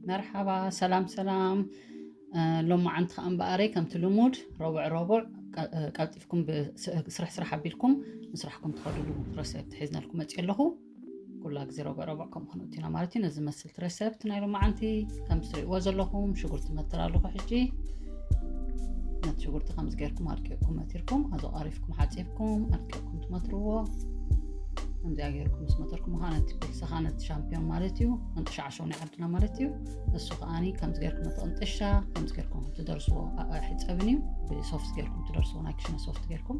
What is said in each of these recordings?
መርሓባ ሰላም ሰላም ሎማዓንቲ ከዓ እምበኣረይ ከምቲ ልሙድ ረቡዕ ረቡዕ ቀልጢፍኩም ስርሕ ስራሕ ኣቢልኩም ምስራሕኩም ትኸድሉ ረሰብቲ ሒዝናልኩም መፅእ ኣለኹ ኩላ ግዜ ረብዕረብዕ ከም ኾኑ እቲና ማለት እዩ ነዚ መስልቲ ረሰብት ናይ ሎማዓንቲ ከም ትሪእዎ ዘለኹም ሽጉርቲ መትር ኣለኹ ሕጂ ነቲ ሽጉርቲ ከምዚ ገርኩም ኣድቂቕኩም መቲርኩም ኣዞ ቐሪፍኩም ሓፂብኩም ኣድቂቕኩም ትመትርዎ ከምዚኣ ገርኩም ምስ መተርኩም ከዓ ነቲ ፒልሲ ከዓ ነቲ ሻምፒዮን ማለት እዩ እንጥሻዕሸው ናይ ዓድና ማለት እዩ እሱ ከዓኒ ከምዚ ገርኩም ነቲ ቅንጥሻ ከምዚ ገርኩም ትደርስዎ ኣሕፀብን እዩ ብሶፍት ገርኩም ትደርስዎ ናይ ክሽነ ሶፍት ገርኩም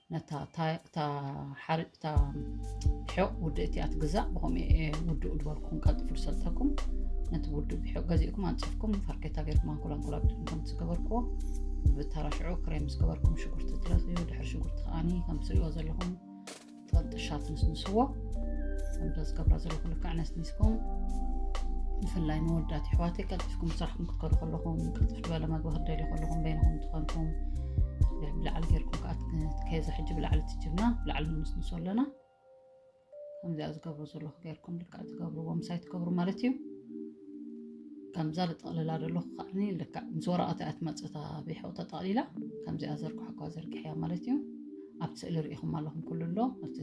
ነታ እታ ሓር እታ ብሕቕ ውድእ እቲኣ ትግዛእ ብኸምኡ ውድኡ ዝበልኩም ቀልጥፉ ዝሰልጠኩም ነቲ ውድእ ብሕቕ ገዚእኩም ኣንፂፍኩም ፋርኬታ ገርኩም ኣንኮላ ኣንኮላ ብጥምኩም ዝገበርክዎ ብተራ ሽዑ ክሬም ዝገበርኩም ሽጉርቲ ትለኽዩ ድሕሪ ሽጉርቲ ከዓኒ ከም ትሪእዎ ዘለኹም ጥቕጥሻ ትንስንስዎ ከምቶ ዝገብራ ዘለኹ ልክዕ ኣነስኒስኩም ብፍላይ መወዳት ይሕዋተይ ቀልጢፍኩም ስራሕኩም ክትከዱ ከለኹም ቅልጥፍ ዝበለ መግቢ ክደልዩ ከለኹም በይንኹም ትኾንኩም ብላዕሊ ጌርኩም ከዓ ከዛ ሕጂ ብላዕሊ ትጅብና ብላዕሊ ንምስንሶ ኣለና ከምዚኣ ዝገብሩ ዘለኹ ጌርኩም ልክዕ ትገብርዎ ምሳይ ትገብሩ ማለት እዩ ከምዛ ልጠቕልላ ዘለኹ ከዓኒ ልክዕ ምስ ወረቐት እያ ትመፅእ እታ ቢሖ ተጠቕሊላ ከምዚኣ ዘርግሖኳ ዘርግሕያ ማለት እዩ ኣብቲ ስእሊ ርኢኹም ኣለኹም ኩሉ ኣሎ ኣብቲ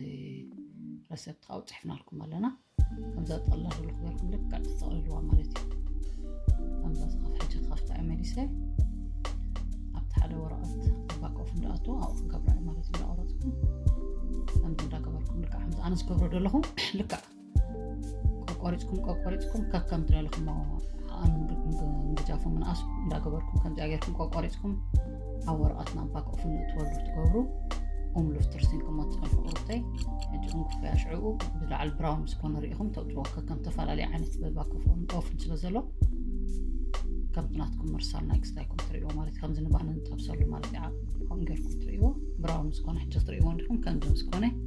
ረሰብቲ ካብኡ ፅሕፍናልኩም ኣለና ከምዛ ጠላሉ ክበርኩም ልክዕ ትጠቕልልዋ ማለት እዩ ከምዛ ዝኸፍ ሕጂ ክኸፍታ እዩ መሊሰ ኣብቲ ሓደ ወረቐት ኣባቆፍ እንዳኣቶ ኣብኡ ክገብራ እዩ ማለት እዩ እንዳቆረፅኩም ከምዚ እንዳገበርኩም ልክዕ ከምዚ ኣነ ዝገብሮ ዘለኹ ልክዕ ቆቆሪፅኩም ቆቆሪፅኩም ከከም ትደልኹሞ ምድጃፉ ምንኣስ እንዳገበርኩም ከምዚኣ ጌርኩም ቆቆሪፅኩም ኣብ ወረቐት ናብ ባክኦፍ ንእትወሉ ትገብሩ ኡም ሉፍትር ሲንክሞ ትፀንሑ ቁርብተይ ሕጂ ኡም ክፍያ ሽዕኡ ብላዕሊ ብራውን ምስ ኮነ ርኢኹም ተውፅዎ ከከም ተፈላለየ ዓይነት በባክፍ ኦን ኦፍን ስለ ዘሎ ከምቲ ናትኩም ምርሳል ናይ ክስታይኩም ትርእይዎ ማለት እዩ ከምዚ ንባህሊ ንጠብሰሉ ማለት እዩ ከምኡ ጌርኩም ትርእይዎ ብራውን ምስ ኮነ ሕጂ ክትርእይዎ እንዲኹም ከምዚ ምስ ኮነ